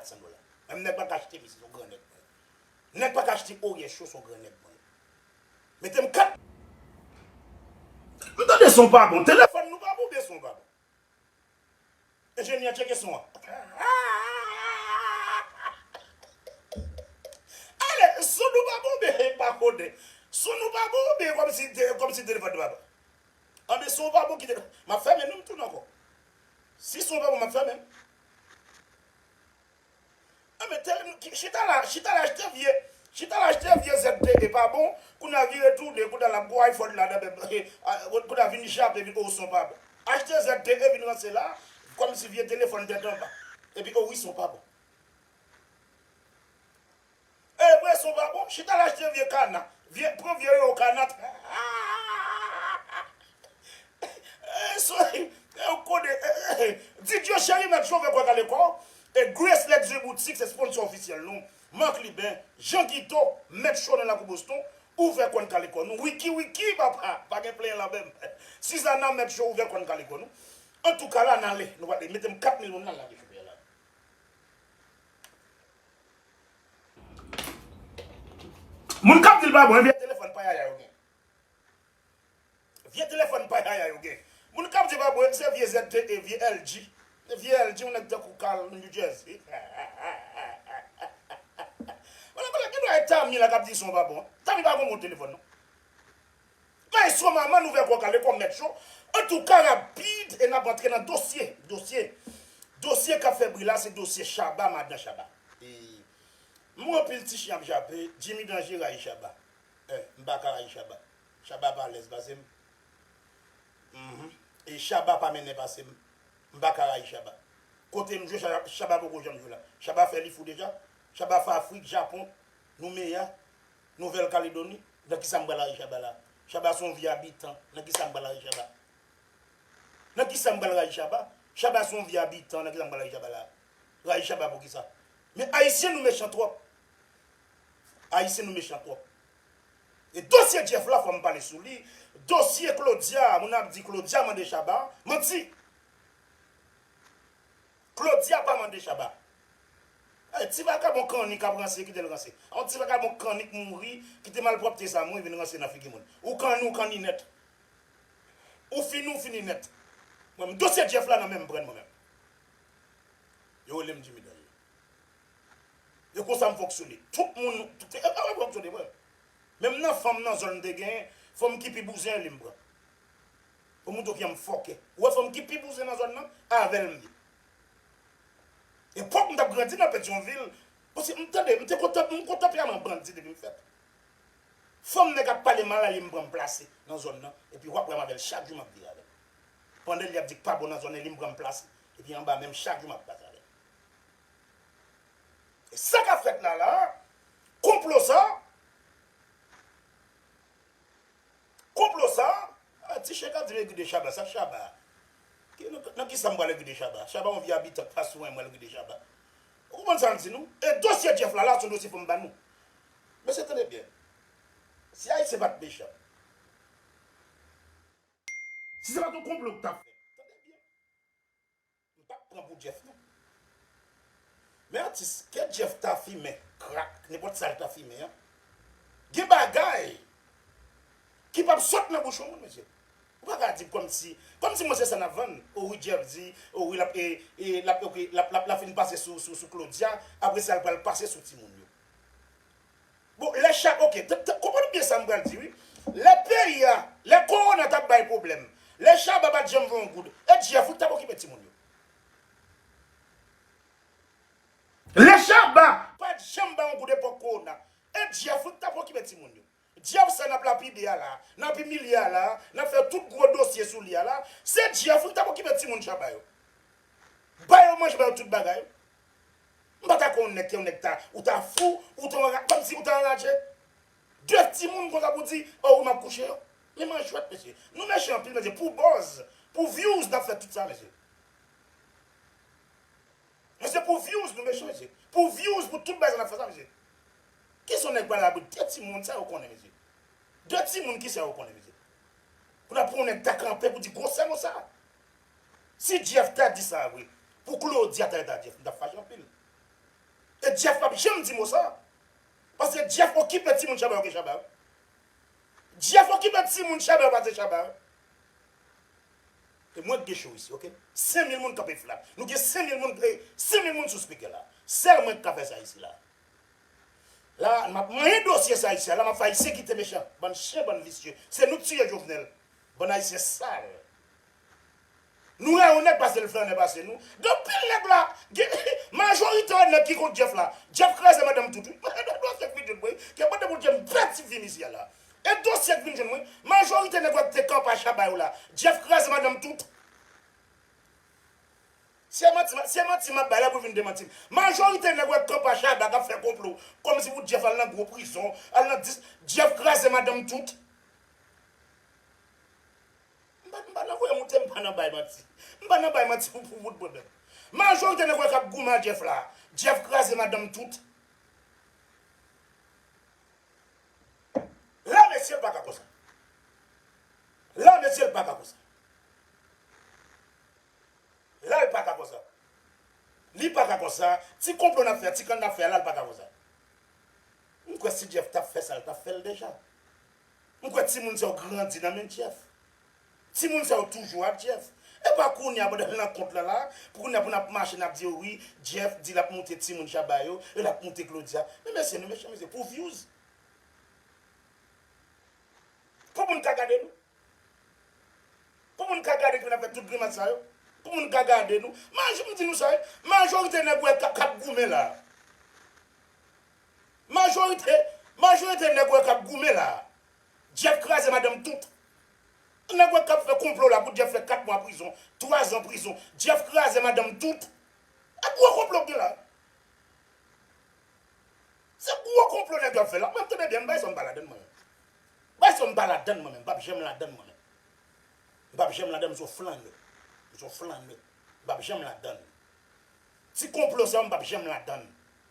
400 dola. Menm nèg pa ka achte misye son gran nèg mwen. Nèg pa ka achte oryè cho son gran nèg mwen. Metem 4. M tande son pa bon. Telefòn nou pa bon oubyen son pa bon? Enjenyè tcheke son an. Ale, son nou pa bon oubyen e pa konnen? Son nou pa bon oubyen kòmsi kòmsi telefòn nou pa bon? Anben son pa bon kite, m ap fèmen non m tounen ankò. Si son pa bon m ap fèmen. Anben telmn m chita la chita la achte vye chita la achte vye ZT e pa bon kounya vire tounen kounya lap gon iPhone la nan menm kounya vin jape vin oo son pa bon achte ZT e vin ranse la kòmsi vye telefòn tèt anba epi oo wi son pa bon. Ebre son pa bon, chita la achte vye kana, vye pran vye yo kana eehh soyi ew kode eehh Didio cheri mèt chofè kwè kale kòw e Grace Luxury boutique se sponsor officiel nou Marc Liben, Jean Guito, mèt cho nan lakou Boston ou fè kòn kale kò nou Wiki Wiki papa pa gen plenyen lanmè m Suzana mèt cho ou fè kòn kale kò nou Antouka la nale nou pale metem 4 mil moun la la depi kounye la. Moun kap dil pa bon e vye telefòn pa yaya yo gen vye telefòn pa yaya yo gen moun kap di pa bon se vye ZTE vye LG vye LG yon nèg tankou Carl nan New Jersey genlè gen dwa e Tami la kap di son pa bon Tami pa gon bon telefòn non. Bay son manman nou vègò kale kòm mèt cho antouka rapid e nap antre nan dosye dosye dosye kap fè bri la se dosye Shabba madan Shabba ee mwen anpil ti chyen ap jape Jimmy Danger rayi Shabba eh m paka rayi Shabba Shabba pa alèz pase m humm e Shabba pa mennen pase m m paka rayi Shabba kote m jwe Shabba poko janm jwe la Shabba fè li fou deja Shabba fè Afrik Japon nou meya. Nouvèl Kaledoni, Nan ki sa m pral rayi Chaba la a? Chaba se yon vye abitan, nan ki sa m pral rayi Chaba? Nan ki sa m pral rayi Chaba? Chaba se yon vye abitan, nan ki sa m pral rayi Chaba la a? Rayi Chaba pou ki sa? Men Ayisyen nou mechan twòp! Ayisyen nou mechan twòp! E dosye Jeff la fò m pale sou li, dosye Claudia a, moun ap di Claudia mande Chaba, manti! Claudia pa mande Shabba. Ay ti vagabon kanni kap ranse kitel ranse. Yon ti vagabon kanni k mouri kite malpwòpte sa mouri vin ranse nan figi moun. Ou kanni ou kanni nèt. Ou fini ou fini nèt. Mwen menm dosye Jeff la nan menm pren mwen menm. Yo relem Jimmy dan yo. E konsa m fòk sou li. Tout moun Menm nan fanm nan zòn m te gen fanm ki pi bouzen li m pran. Ou moute w pianm fòkè. Ou wè fanm ki pi bouzen nan zòn nan? Avè l m ye. Epòk m t ap grandi nan Petyonvil, paske m tande, m te kontan, m kon tanperaman bandi depi m fèt. Fanm nèg ap pale mal a li m pran m plase nan zòn nan epi w ap wè m avè l chak jou m ap vire avè l. Pandan li ap di k pa bon nan zòn e li m pran m plase epi anba men m chak jou m ap pase avè l. E sa k ap fèt la la a? Konplo sa a? Konplo sa a ti chèk ap di li gide shaba sa shaba nan kisa m pral gide shaba shaba yon vye abitant pa swen mwen gide shaba ou konprann sa m di nou e dosye jeff la la son dosye fòm ba nou mesye tande byen si ayisyen pat mechan si se pat yon konplo ki tap fèt tande byen. M pap pran pou Jeff non. Men atis ke Jeff ta fimen krak nenpòt sal ta fimen an gen bagay ki pap sot nan bouch yon moun mesye ou pa ka di kòmsi kòmsi mwen se sa nap vann o wi Jeff di o wi lap e e lap ok lap lap la fin pase sou sou Claudia apresa li pral pase sou timoun yo. Bon lè chak ok konprann byen sam pral di wi lè peyi a lè korona tap bay pwoblèm lè shaba pat janm voye yon goud e jeff wi ki tap okipe timoun yo lè shaba pat janm bay yon goud epòk korona e jeff wi ki tap okipe timoun yo Jeff sa nap lapide a la, nap imilye a la, nap fè tout gwo dosye sou li a la, se Jeff wi tap okipe timoun Shabba yo. Ba yo manje ba yo tout bagay. M pa ta kwè yon nèg ke yon nèg ta, ou ta fou, ou ta anra, kòm si ou ta anraje. De timoun konsa pou di, oh wi map kouche yo. Men manjwèt mesye. Nou mechan anpil mesye pou buzz, pou views nap fè tout sa mesye. Bon se pou views nou mechan mesye. Pou views pou tout bagay nap fè sa mesye. Kisa yon nèg pral labou 2 timoun sa yo konnen mesye. 2 timoun kisa yo konnen mesye. Pou nap pran yon nèg ta kanpe pou di gwosè mo sa. Si Jeff ta di sa vre pou Claudia ta reta Jeff m tap fache anpil. E Jeff pap janm di mo sa. Paske Jeff okipe timoun Shabba yo ke Shabba yo. Jeff okipe timoun Shabba yo pase Shabba yo. E mwen k gen show isi ok. 5000 moun kanpe flat. Nou gen 5000 moun e 5000 moun sou speaker la. Sèl mwen k ka fè sa isi la. La a map manyen dosye sa isi a. La map fè ayisyen kite mechan. Bann chyen bann visye. Se nou k tiye Jovenel. Bann ayisyen sal. Nou rè yon nèg pase l flannè pase nou. Gen pil nèg la. Gen majorite nèg ki kont Jeff la. Jeff kraze madanm tout wi. Mwen gen 2 ou 3 fèk videyo l mwen. Gen pote pou l di m pè ti vin isi a la. E dosye k vin jwenn mwen. Majorite nèg wap de kanpa shaba yo la Jeff kraze madanm tout. Se manti map se manti map bay la pou vin demanti m. Majorite nèg wap kanpa shaba kap fè konplo komsi pou Jeff al nan gwo prizon al nan dis Jeff kraze madanm tout. M pa m pa nan voye moute m pa nan bay manti. M pa nan bay manti pou pou bout bòdòt. Majorite nèg wè kap goumen a Jeff la Jeff kraze madanm tout. La mesye l paka konsa. La mesye l paka konsa. La l paka konsa. Li paka konsa. Ti konplo nap fè, ti kann nap fè a la l paka konsa. M kwè si Jeff tap fè sa l tap fè l deja. M kwè timoun sa yo grandi nan men Jeff. Timoun sa yo toujou ak Jeff. Epa kounya pandan l nan kont lan la pou kounya pou nap mache nap di yo wi Jeff di lap moute timoun Shabba yo e lap moute Claudia men mesye nou mechan mesye pou views pou moun ka gade nou pou moun ka gade nou epi nap fè tout grimas sa yo pou moun ka gade nou majò m di nou sa wi majorite nèg wè kap goumen la majorite majorite nèg wè kap goumen la Jeff kraze madanm tout. Nèg wè kap fè konplo la pou Jeff fè 4 mwa prizon, 3 zan prizon. Jeff kraze madanm tout. E gwo konplo k gen la. Se gwo konplo nèg yo ap fè la. Mwen tande byen m bay son m pa ladann mwen menm. Bay son m pa ladann mwen menm. M pap janm ladann mwen menm. M pap janm ladann m son flannè. M son flannè. M pap janm ladann. Ti konplo sa yo m pap janm ladann.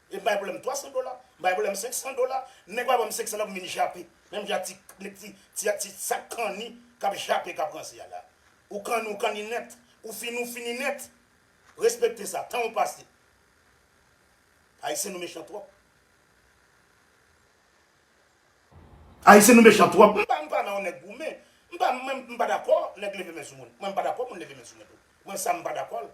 E m pa gen pwoblèm 300 dola, m pa gen pwoblèm 500 dola. Nèg pa ban m 500 dola pou m vin jape. Menm jan ti nèg ti ti ak ti sak kanni k ap jape k ap ranse a la. Ou kanni ou kanni nèt. Ou fini ou fini nèt. Respekte sa. Tan ou pase. Ayisyen nou mechan twòp. Ayisyen nou mechan twòp. M pa m pa nan yon nèg goumen. M pa m menm m pa dakò nèg leve men sou moun. Mwen m pa dakò moun leve men sou mwen tou. Mwen sa m pa dakò l.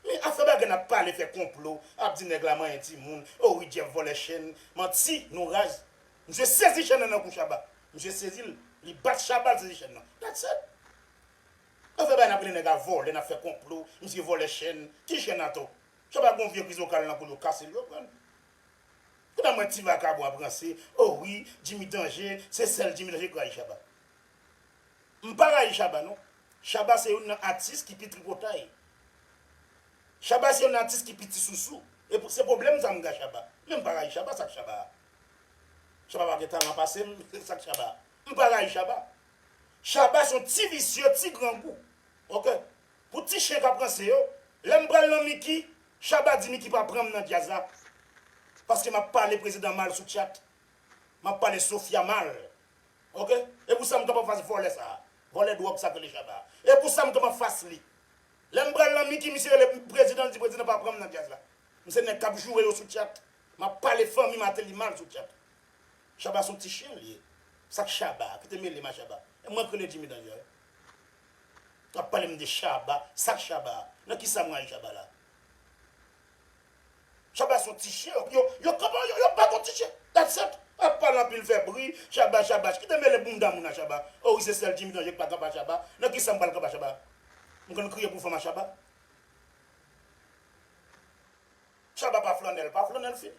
Men afè bagay nap pale fè konplo ap di nèg la manyen timoun oh wi Jeff vòlè chen manti nou raz misye sezi chen nan nan kou Shabba misye sezil li bat Shabba l sezi chen nan that's it afè bagay nap rele nèg la vòlè nap fè konplo misye vòlè chen ki chen atò Shabba gon vye kriz vokal nan koul yo kasel yo pranl kounye a m wè ti vakabon ap ranse oh wi Jimmy danje se sèl Jimmy danje kraze Shabba. M pa rayi Shabba non. Shabba se youn nan atis ki pi tripotay. Shabba se youn atis ki pi ti sousou. E se pwoblèm sa m gen ak Shabba. Men m pa rayi Shabba, sa k Shabba a? Shabba pa gen talan pase m, sa k Shabba a? M pa rayi Shabba. Shabba se yon ti visye, ti grangou. Ok. Pou ti chen k ap ranse yo, lè m pral nan Micky, Shabba di Micky pa pran m nan djaz la. Paske m ap pale prezidan mal sou tchat. M ap pale Sofia mal. Ok e pou sam kap anfas vòlè sa vòlè dròg sa k rele shaba e pou sam kap anfas li lèm pral nan miki misye rele prezidan l di prezidan pa pranm nan djaz la m se nèg kap joure yo sou chat map pale fanmi mateli mal sou chat shaba son ti chyen l ye sak shaba a kite melem a shaba e mwen k rele jimmy danjè wap palem de shaba sak shaba a nan kisa mwen al shaba la. Shabba son ti chien ok yo yo kman yo yo pa kon ti chien that's it ap pale anpil fè bri shabba shabba kite mele bounda moun a shabba oh wi se sèl jimmy danje ki pa kanpe a shabba nan kisam pral kanpe a shabba m konn kriye pou fanm a shabba shabba pa flannè l pa flannè l fini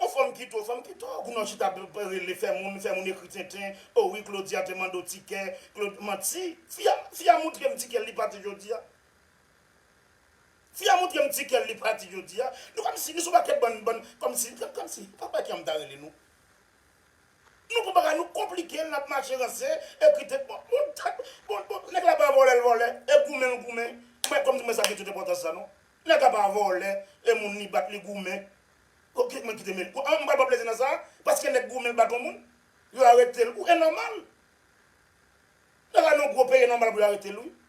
on fanm kite w fanm kite w kounye w chita ap rele fè moun fè moun ekri tenten oh wi claudia te mande w tikè claud manti fi a fi a moutre m tikè l li pati jodia Fi a montrem ti kèl li pa di jodia nou kòmsi nou son pakèt bann bann kòmsi kòmsi pa wè kijan m ta rele nou nou pran bagay nou konplikel nap mache ranse ekri tèt bon bon tèt bon bon nèg la pa vòlè l vòlè e goumen l goumen mwen kòmsi m wè sa gen tout enpòtans sa non nèg la pa vòlè e moun li bat li goumen ok mwen kite mel an m pral pran plezi nan sa paske nèg goumen l bat on moun yo aretel ou e nòmal nèg la nan gwo peyi e nòmal pou yo aretel wi.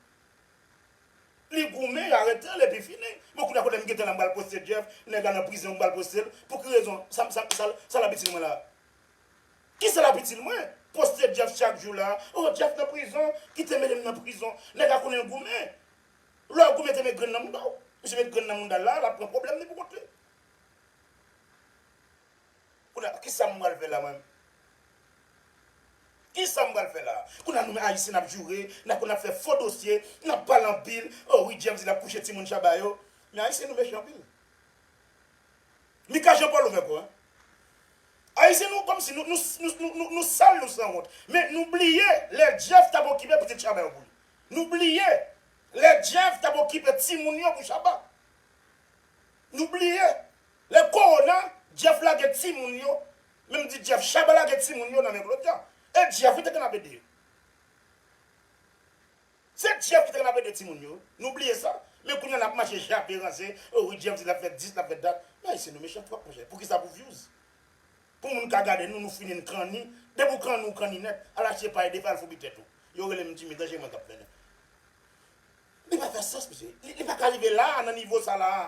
Li goumen yo aretel epi fini. Bon kounya kotem gentan la m pral poste Jeff nèg la nan prizon m pral postel pou ki rezon sa sa sa lap itil mwen la kisa lap itil mwen poste Jeff chak jou la oh Jeff nan prizon kite mele m nan prizon nèg la konnen l goumen lè w goumen te met grenn nan mouda w misye met grenn nan moudal la lap pran pwoblèm li pou kont li. Kounye a kisa m pral fè la mwen? Kisa m pral fè la? Kounye a nou menm ayisyen nap joure, nap konn ap fè fo dosye, nap pale anpil, oh wi James di lap kouche timoun Shabba yo, men ayisyen nou mechan anpil. Mika Jean Paul ouvè kò hein. Ayisyen nou kòmsi nou nou nou sal nou sanwont men nou bliye lè Jeff tap okipe pitit Shabba yo pou li. Nou bliye lè Jeff tap okipe timoun yo pou Shabba. Nou bliye Lè kowona, Jeff lage timoun yo, menm di Jeff Chaba lage timoun yo nan men Claudia. E Jeff wi te konn ap ede yo. Se Jeff ki te konn ap ede timoun yo wi. Nou bliye sa. Men kounya nap mache jape, ranse, o wi Jeff di lap fè dis, lap fè dat. Men Ayisyen nou mechan twòp monchè. Poukisa pou vyouz? Pou moun ka gade nou, nou fini n kanni. Depi w kanni, w kanni nèt. Al achte pay depi al foubi tèt ou. Yo rele m Jimmy, danje mwen kap mennen. Li pa fè sans mesye. Li pa ka rive la a, nan nivo sa la a.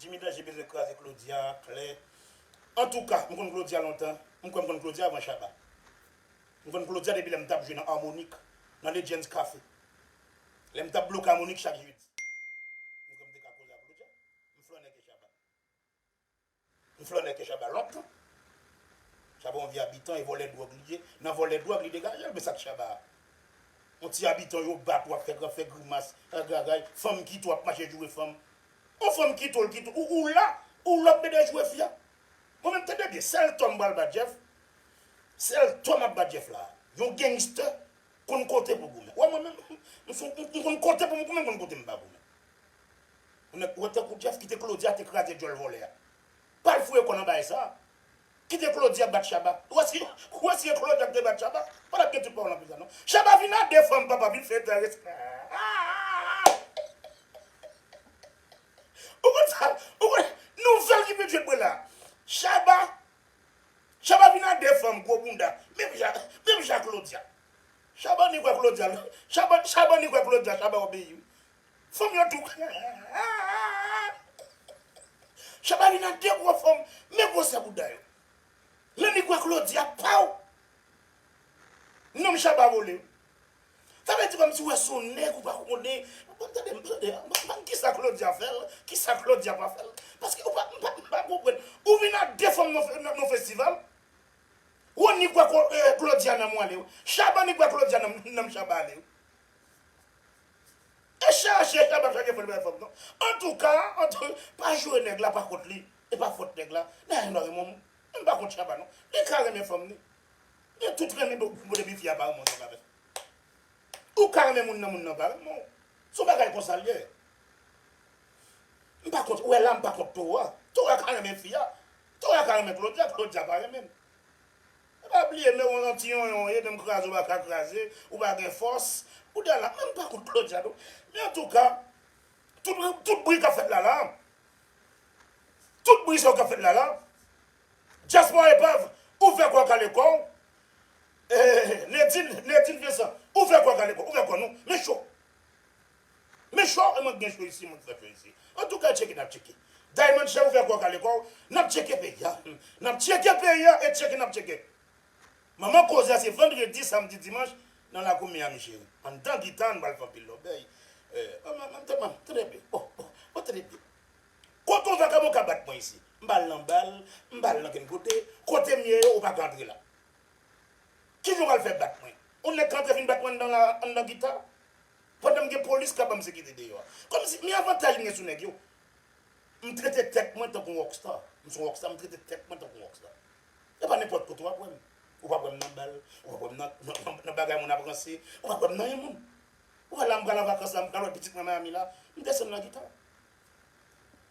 Jimmy danje bezwen kraze Claudia klè antouka m konn Claudia lontan m kwè m konn Claudia avan Shabba m konn Claudia depi lèm tap jwe nan Harmonik nan Legends Café lèm tap bloke Harmonik chak jedi m kwè m te ka koze ak Claudia m flannè ke Shabba. M flannè ke Shabba lòt tou. Shabba yon vye abitan e vòlè dwòg li ye. Nan vòlè dwòg li degaje l men sa k Shabba a? Yon ti abitan yo bat wap fè gran fè grimas ragagay fanm kite w ap mache joure fanm. Yon fanm kite w l kite w ou la ou la w ap mède joure fi a? Bon men tande byen sèl tò m pral bat Jeff sèl tò map bat Jeff la yon gangster konn kote pou goumen. Wè mwen menm m son m konn kote pou m goumen m konn kote m pa goumen. Ou nèt wè tankou Jeff kite Claudia ate kraze djòl vòlè a pal fouye kòl anba esa kite Claudia bat Shabba ou wè si ou wè si e Claudia ki te bat Shabba pa tap gen tout pawòl nan prizon non Shabba vin a 2 fanm papa vin fè respè ou konn sa ou konn nouvèl ki vin jwe Prela Shabba Shabba vin a 2 fanm gwo bounda menm jan menm jan Claudia Shabba ni kwè Claudia Shabba ni kwè Claudia Shabba obeyi wi Fanm yo tou Shabba li nan de gwo fanm men gwosè bouda yo Lan li kwè Claudia paw Nonm Shabba vole Sa vle di komsi ou wè son nèg ou pa konnen Bon tande m tande banm kisa Claudia fèl kisa Claudia pa fèl paske ou pa m pa konprann ou vin ak de fanm nan festival Rony kwè Claudia nanm ou ale Shabba ni kwè Claudia nanm Shabba ale. E chaje e pa chaje fol bay fanm non antouka antou pa joure nèg la pa kont li e pa fòt nèg la Nayem pa renmen w menm pa kont Chaba non li ka renmen fanm li gen tout renmen bon depi fi a pa renmen w se pa vre ou ka renmen moun nan moun nan pa renmen w son bagay konsa l ye m pa kont ou wè la m pa kont towa towa ka renmen fi a towa ka renmen Claudia Claudia pa renmen m. Ou pa bliye men ou yon ti yonyon ou ye menm kraze ou pa ka kraze, ou pa gen fòs, ou dè la menm pa kont Claudia tou, men antouka tout tout bri kap fèt lala tout bri sa yo kap fèt lala dyaspora epav ou fè kò kale kò ou Nedjine Vincent ou fè kò kale kò ou fè kò nou men cho. Men chò e mank gen chò isi mank fè fè isi antouka tcheke nap tcheke Diamond chè ouvè kòw kale kòw nap tcheke peyi a nap tcheke peyi a e tcheke nap tcheke Manman koze a se vandredi samdi dimanch nan lakou Miami cheri anndan gita an pral fè anpil lòbèy Trèbyen ohh trèbyen Kot yon vakabon ka bat mwen isi m pa al nan bal m pa al nan kenn kote kotem ye yo ou paka antre la Kijan ou pral fè bat mwen yon nèg ka antre vin bat mwen anndan la anndan gita. Pandan m gen polis k ap ban m sekite deyò a. Kòmsi, men avantaj m gen sou nèg yo. M trete tèt mwen tankou yon rockstar. M son rockstar, m trete tèt mwen tankou yon rockstar. E pa nenpòt kote w ap wè m. Ou pap wè m nan bal, ou pap wè m nan bagay moun ap ranse, ou pap wè m nan yon moun. Ou wè la m pral an vakans la, m pral wè pitit mwen Miami la, m desann nan gita.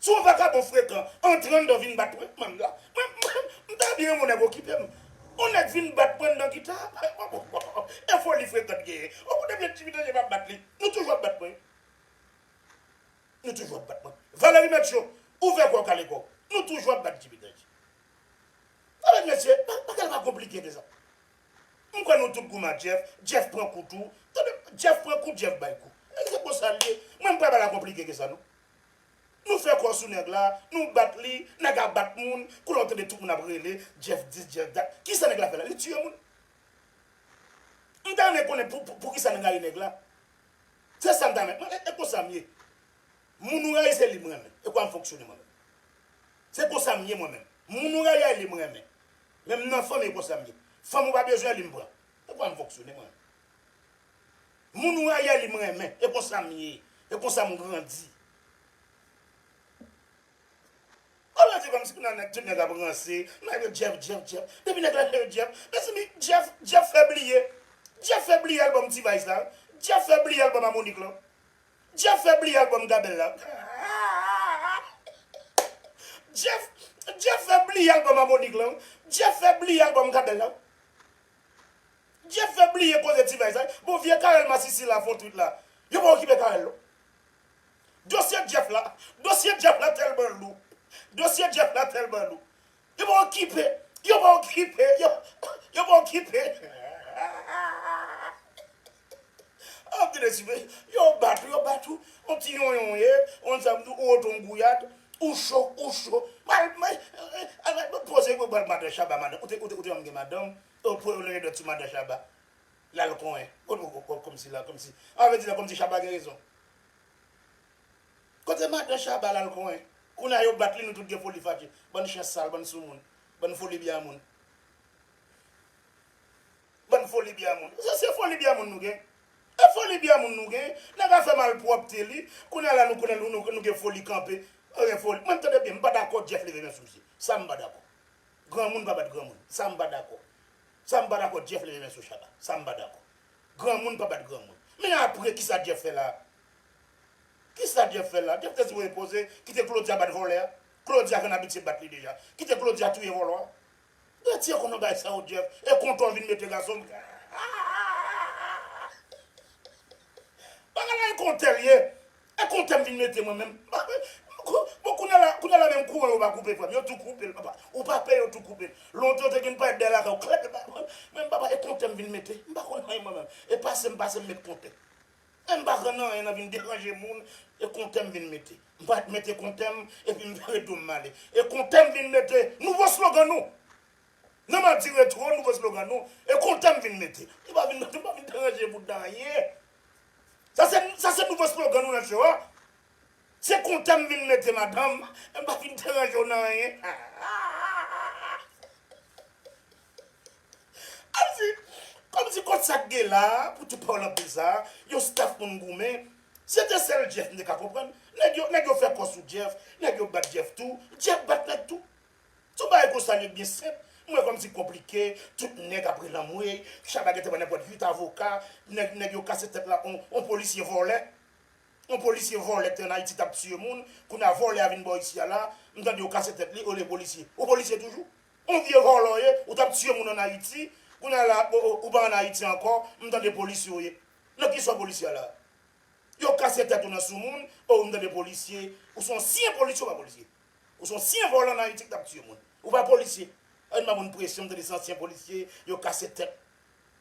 Son vagabon frekan antre anndan vin bat mwen, man la, mwen m ta byen renmen yon nèg okipe m, yon nèg vin bat mwen anndan gita a, bay mwen bon e foli frekan t genyen, ou konnen byen Djimi Danje pa bat li, nou toujou ap bat mwen wi, nou toujou ap bat mwen, Valery Merccio ouvè kò w kale kò w, nou toujou ap bat Djimi Danje, mezanmi mesye bagay la pa konplike ke sa. M kwè nou tout gou ma Jeff, Jeff pran kou tou, tande Jeff pran kou Jeff bay kou. Nèg se konsal ye, mwen m pa bagay la konplike ke sa non. Nou fè kò sou nèg la, nou bat li, nèg a bat moun, koulè ou tande tout moun ap rele Jeff dis Jeff dat, kisa nèg la fè la, li tiye moun. M ta renmen konnen poukisa nou rayi nèg la. Se sa m ta renmen konnen, e konsa m ye. Moun ou rayi se li m renmen, e konsa m fonksyone mwen menm. Se konsa m ye mwen menm, moun ou rayi a li m renmen, Menm nan fanmi konsa m ye. Fanm ou pa bezwen li m pran. E konsa m fonksyone mwen. Moun ou rayi a li m renmen. E konsa m ye. E konsa m grandi. Ou ranse kòm si nan nèt tout nèg ap ranse. Nan yo Jeff Jeff Jeff. Depi nèg la nan yo Jeff. Mezanmi Jeff Jeff fè bliye. Jeff fè bliye album T-vice la. Jeff fè bliye album Harmonik lan. Jeff fè bliye album gabel la Jeff Jeff fè bliye album harmonik lan Jeff fè bliye album gabel la Jeff fè bliye koze ti vay sa bon vye carel masisi la fon twit la yo pa okipe carel non dosye Jeff la dosye Jeff la tèlman lou dosye Jeff la tèlman lou. Yo pa okipe, yo pa okipe, yo, yo pa okipe. An pil espri, yo bat ou, yo bat ou, on ti yonyonye, on sa m di w, ou rete on gouyad, ou cho, ou cho. Mal, mal, al poze pou bal madan Chaba madan, ou te, ou te, ou te janm gen madanm, ou pran yon lennèdòt sou madan Chaba. Lal konyen. Kòmsi la, kòmsi, an vle di la kòmsi Chaba gen rezon. Kote madan shaba lal konyen. Kounya yo bat li nou tout gen foli fadje bann chen sal bann soumoun bann foli bya moun bann foli bya moun se se foli bya moun nou gen e foli bya moun nou gen nèg a fè malpwòpte li kounya la nou konnen nou gen foli kanpe pa gen foli mwen tande byen m pa dakò Jeff leve men sou misye sa m pa dakò granmoun pa bat granmoun sa m pa dakò sa m pa dakò Jeff leve men sou shaba sa m pa dakò granmoun pa bat granmoun men apre kisa Jeff fè la Kisa Jeff fè la? Jeff te sipoze poze kite Claudia bat vòlè a. Claudia konn abitye bat li deja. Kite Claudia touye vòlò a. Bertie konn bagay sa yo Jeff e kontan w vin mete gason m hahahahahahaha bagay la e kontè l ye e kontè m vin mete mwen menm bon kounya la kounya la menm kouran yo pa koupe frè m yo tou koupe l papa ou pa pè yo tou koupe l lontan yo te konn parèt dèyè lakay w klèk epa menm papa e kontè m vin mete m pa konn anyen mwen menm e pase m pase m met kontè. Menm m pa pran nan anyen nan vin deranje moun e kontè m vin mete. M pa ret mete kontè m epi m vire do m m ale. E kontè m vin mete nouvo slogan nou. Nan Madi Retro nouvo slogan nou e kontè m vin mete. Nou pa vin nou pa vin deranje moun nan anyen. Sa se sa se nouvo slogan nou nan show a. Se kontan m vin rete madanm, m pa vin deranje w nan anyen. Alvi, Kòmsi kont sa k gen la a pou tou pawòl anpil sa a, yon staf moun goumen, se te sèl Jeff m te ka konprann. Nèg yo, nèg yo fè kò sou Jeff, nèg yo bat Jeff tou, Jeff bat nèg tou. Son bagay konsa li yo t byen senp, m wè kòmsi konplike, tout nèg ap rele anmweyy, Shabba gen te pran nenpòt 8 avoka, nèg, nèg yo kase tèt la on, on polisye vòlè. On polisye vòlè te an ayiti tap tiye moun kounya vòlè a vin bò isi a la m tande yo kase tèt li olye polisye ou polisye toujou on vye vòlè w ye ou tap tiye moun an ayiti kounya la ou pa an ayiti ankò m tande polisye w ye nan ki sò polisye a la yo kase tèt ou nan sou moun oo m tande polisye ou son syen polisye ou pa polisye ou son syen vòlè an ayiti ki tap tiye moun ou pa polisye ann ba moun presyon m tande se ansyen polisye yo kase tèt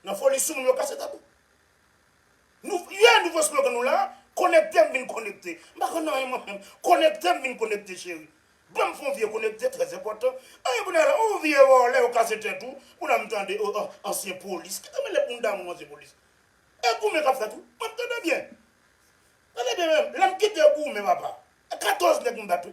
nan foli sou moun yo kase tèt ou. Nou yeah nouvo slogan nou la Konekte m vin konekte M pa konn anyen mwen menm Konekte m vin konekte cheri Banm fon vye konekte trè enpòtan Anyen pou n ale ooh vye vòlè ou kase tèt ou Pou la m tande ooh oh ansyen polis Kite mele bounda moun ansyen polis E goumen k ap fèt wi mwen m tande byen Tande byen menm lè m kite goumen papa E 14 nèg m bat wi.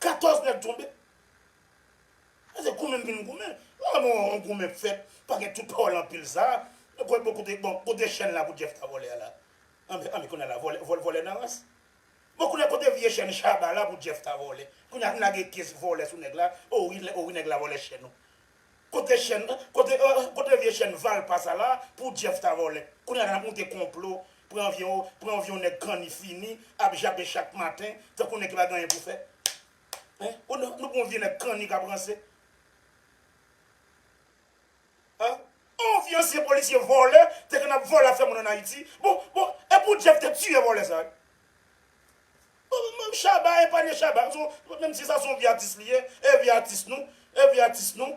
14 nèg tonbe. Sa se goumen vin goumen. Lè yon yon goumen fèt, pa gen tout pawòl anpil sa a. Mwen kwè bon kote bon kote chèn la pou Jeff ta vole a la? Anben anben kounye a la vole vole vole nan rans. Bon kounye a kote vye chèn Shabba la pou Jeff ta vole? Kounye a n lage kes vole sou nèg la, o wi o wi nèg la vole chèn ou. Kote chèn kote euh kote vye chèn valpa sa la pou jeff ta vòlè kounya nap moute konplo pran vye ou pran vye ou nèg kanni fini ap jape chak maten tankou nèg ki pa gen anyen pou fè hein ou nan nou pran vye nèg kanni kap ranse ah on vye ansyen polisye vòlè te konn ap vòlè ap fè moun an ayiti bon bon epou jeff te tiye vòlè sa. Bon menm Shabba epanye Shabba son menm si sa son vye atis li ye e vye atis nou e vye atis nou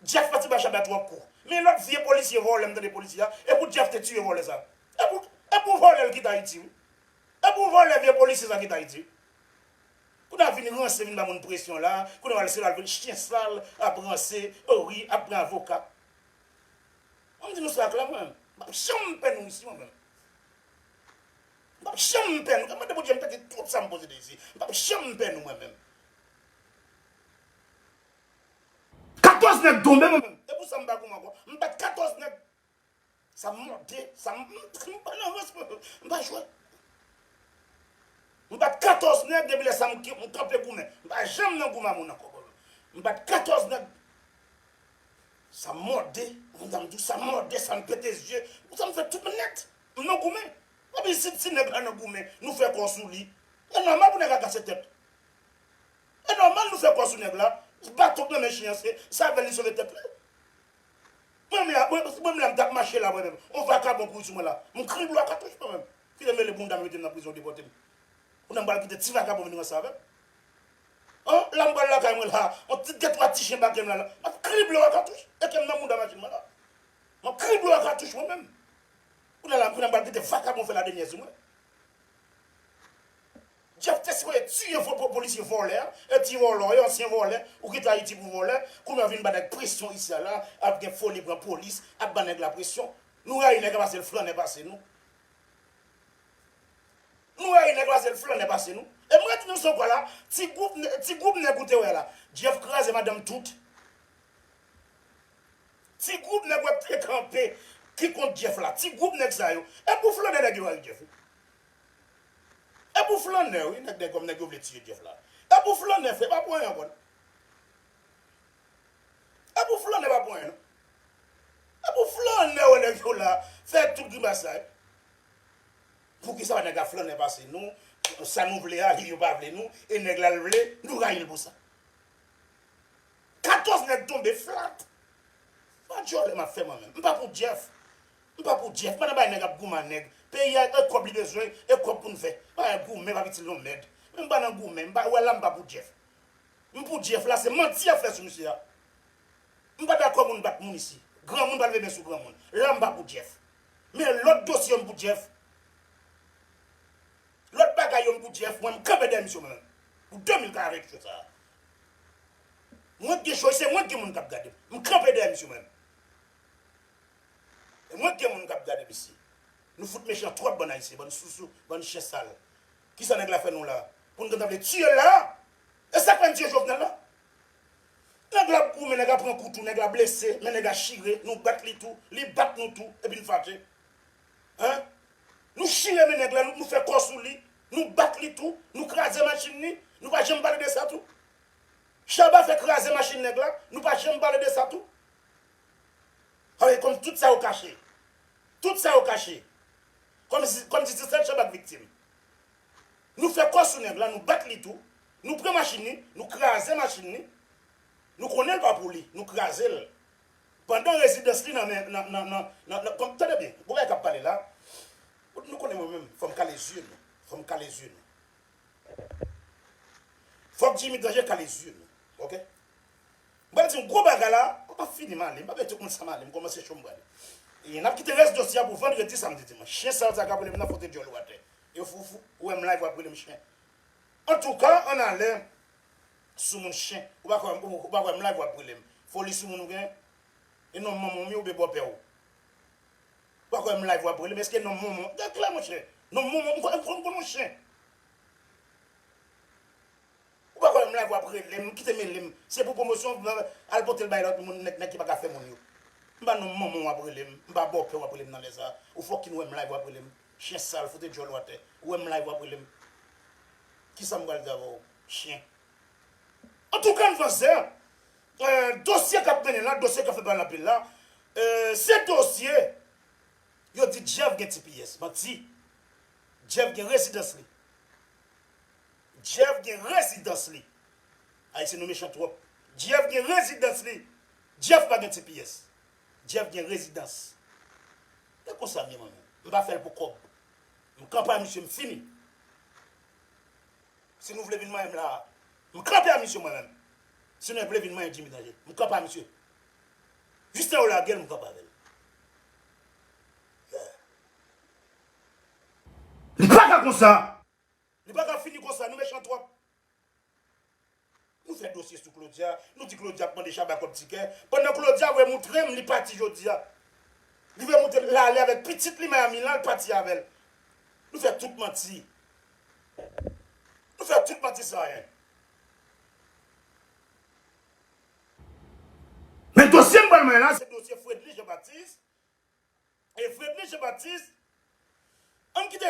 Jeff pati ba Shabba twòp kou men lòt vye polisye vòlè m tande polisye a e pou Jeff te tiye vòlè sa e pou e pou vòlè l kite Ayiti wi e pou vòlè vye polisye sa kite Ayiti wi kounye a vin ranse vin ba moun presyon la kounye a wal se la l vin chyen sal ap ranse o wi ap pran avoka mwen di nou sa klè mwen m pap janm pè nou isi mwen menm M pap janm pè nou. Mwen mande Bondye m pè di tout sa m poze dezi. M pap janm pè nou mwen menm. 14 nèg tonbe mwen menm. E pou sa m pa goumen ankò. M bat 14 nèg. Sa m mòde. Sa m pa nan rans mwen. M pa jwe. M bat 14 nèg depi lè sa m kanpe goumen. M pa janm nan goumen a moun ankò. M bat 14 nèg. Sa mòde, moun sa m di w sa mòde, sa m pete zye, moun sa m fè tout m nèt, m nan goumen. Epi si ti nèg la nan goumen, nou fè kò sou li, e nòmal pou nèg la kase tèt. E nòmal nou fè kò sou nèg la, baton k nan men chen an se sèvèl li sove tèt li. Mwen menm la, si mwen menm la m tap mache la mwen menm, on vakabon kouri sou mwen la, m kriye blo a katouch mwen menm. Kite m mele bounda m mete l nan prizon yo depòte m. Kounye a m pral kite ti vakabon vin ranse avè m. Oh la m pral lakay mwen la on ti de twa ti chen bake m la la map krib yo a katouch e kem nan mouda machin mwen la map krib yo a katouch mwen menm kounya la kounya m pral kite vakabon fè ladenyè sou mwen Jeff te sipoze tiye fo polisye vòlè a e ti vòlò e ansyen vòlè ou kite ayiti pou vòlè kounya w vin ba nèg presyon isi a la ap gen foli pran polis ap ba nèg la presyon nou rayi nèg a pase l flannè pase nou. Nou wè e nèg la se l flannè pase nou e m ret nan son kwa la ti gwoup ti gwoup nèg ou te wè la Jeff kraze madanm tout ti gwoup nèg wè k te kanpe ki kont Jeff la ti gwoup nèg sa yo e pou flannè nèg yo al Jeff wi e pou flannè wi nèg dèkòm nèg yo vle tiye Jeff la e pou flannè fre pa pou anyen ankò non e pou flannè pa pou anyen non e pou flannè wè nèg yo la fè tout grimas sa yo. Poukisa nèg a flannen pase nou sa nou vle a yo pa vle nou e nèg la l vle nou rayil pou sa 14 nèg tonbe flat pa dyòlè map fè mwen menm m pa pou Jeff m pa pou Jeff pa nan bay nèg ap goumen ak nèg peyi a e kòb li bezwen e kòb poun fè pa nan goumen pap itil nou mèd men m pa nan goumen m pa wè la m pa pou Jeff m pou Jeff la se manti yap fè sou misye a m pa dakò moun bat moun isi granmoun pa leve men sou granmoun la m pa pou Jeff. Men lòt dosye yo m pou Jeff Lòt bagay yo m pou Jeff Mwen m kanpe dèyè misye mwen Pou 2040 jou sa Mwen k gen cho e se mwen k gen moun k ap gade m M kanpe dèyè misye mwen E mwen k gen moun k ap gade mesye Nou fout mechan twòp bann ayisyen Bann sousou bann chen sal Kisa nèg la fè nou la Pou nou gentan vle tiye l la E sak fè n tiye Jovenel la. Nèg la ap goumen nèg la pran kou tou nèg la blese men nèg la chire nou bat li tou li bat nou tou epi n fache hein nou chire men nèg la nou fè kò sou li nou bat li tou nou kraze machin li nou pa janm pale de sa tou Shabba fè kraze machin nèg la nou pa janm pale de sa tou ah wi kòm tout sa yo kache tout sa yo kache kòmsi se sèl Shabba k viktim Nou fè kò sou nèg la, nou bat li tou, nou pran machin li, nou kraze machin li, nou konnen l pa pou li, nou kraze l. Pandan rezidans li nan men, nan, nan, nan, nan, nan, kon, tande byen, bon bagay k ap pale la, bon, nou konnen mwen menm, fò m kale zye nou, fò m kale zye nou. Fòk Jimmy Danje kale zye nou, ok? M pral di yon gwo bagay la, m pa fini, m ale, m pa bay tout moun sa m ale, m kòmanse cho m prale. E n ap kite rès dosye a pou vandredi, samdi, dimanch. Chyen sal sa k ap rele m nan fwote dyòl ou atè. Yo fou fou ou wèm live wap relem chien antouka an alè soumoun chien ou pa kwè ou pa wèm live wap relem foli soumoun ou gen e nom manmanw mi oube bòpèw ou pa kwèm live wap relem eske nom monmon gad klè monchè nom monmon ou kwè ou konn on chien ou pa kwèm live wap relem kite melem se pou pwomosyon al potel bay lòt moun nèg ki paka fè moun yo m pa nom manmanw wap relem m pa bòpèw wap relem nan lè sa ou fòkinn wèm live wap relem Chyen sal foute djòl ou atè ou wèm live wap relem kisam pral di avèw chyen. Antouka Nvanzè dosye kap mennen la dosye kap fè pale anpil la se dosye yo di Jeff gen tps manti Jeff gen rezidans li Jeff gen rezidans li Ayisyen nou mechan twòp Jeff gen rezidans li Jeff pa gen tps Jeff gen rezidans. E konsa m ye mwen menm. M pa fè l pou kòb. M kanpe a misye m fini. Si nou vle vin manyen m la a. M kanpe a misye mwen menm. Si nou vle vin manyen Jimmy Danger. M kanpe a misye. Jis lè yo lage l m kanpe avè l. Yeah. Li paka konsa! Li paka fini konsa, nou mechan twòp. Nou fè dosye sou Claudia, nou di Claudia ap mande Shabba kòb tikè, pandan Claudia vle moutrem li pati jodia. Li vle moutrem la ale avèk pitit li Miami lan li pati avèl. Nou fè tout manti. Nou fè tout manti san anyen. Men dosye m pral mande la se dosye Fredly Jean Baptiste e Fredly Jean Baptiste ann kite.